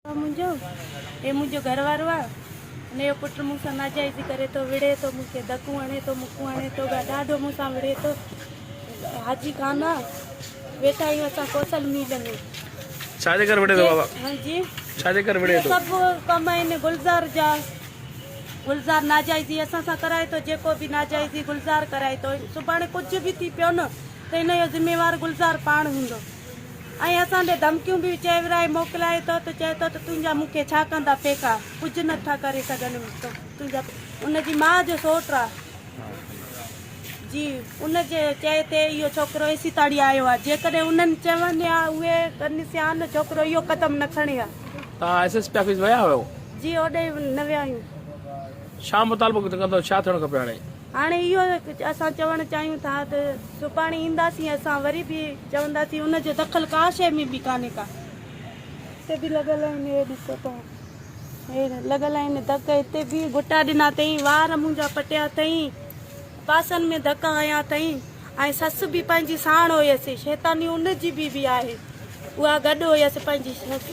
منهنجو هي منهنجو گهر وارو آ هن جو پٽ مون سان ناجائزي ڪري ٿو وڙهي ٿو مون کي دڪون هڻي ٿو مڪون هڻي ٿو ڏاڍو مون سان وڙهي ٿو حاجي خان آ ويٺا آهيون اسان ڪوسل ميل ۾ ڇا جي ڪري وڙهي ٿو بابا ها جي ڇا جي ڪري وڙهي ٿو سڀ ڪم آهن گلزار جا گلزار ناجائزي اسان سان ڪرائي ٿو جيڪو به ناجائزي گلزار ڪرائي ٿو سڀاڻي ڪجهه به ٿي پيو نه ته هن جو ذميوار گلزار پاڻ هوندو ۽ اسان ڏي ڌمڪيون به چئي ورائي موڪلائي ٿو ته چئي ٿو ته تنهنجا مون کي ڇا ڪندا ڦيڪا ڪجهه نه ٿا ڪري سگهن تنهنجا ان جي ماء جو سوٽ آ جي ان جي چئي ٿي اهو ڇوڪرو ايسي تاڙي آيو آ جيڪڏهن انهن چون ها اهي ڪن سيان ڇوڪرو اهو قدم نه کڻي ها توهان ايس ايس پي آفيس ويا هيو جي اوڏي نه ويا آهيون ڇا مطالبو ڪندو ڇا ٿيڻ کپي هاڻي. هاڻي اهو اسان چوڻ چاهيون ٿا ته سڀاڻي اينداسين اسان وري به چونداسين ان جو دخل ڪا شيء ۾ به ڪانهي ڪا. هتي به لڳل آهن هي ڏسو توهان هي لڳل آهن ڌڪ هتي به گهٽا ڏنا اٿئين وار منهنجا پٽيا اٿئين پاسن ۾ ڌڪا هنيا اٿئين ۽ سس به پنهنجي ساڻ هيس شيطاني ان جي به به آهي اها گڏ هيس پنهنجي سس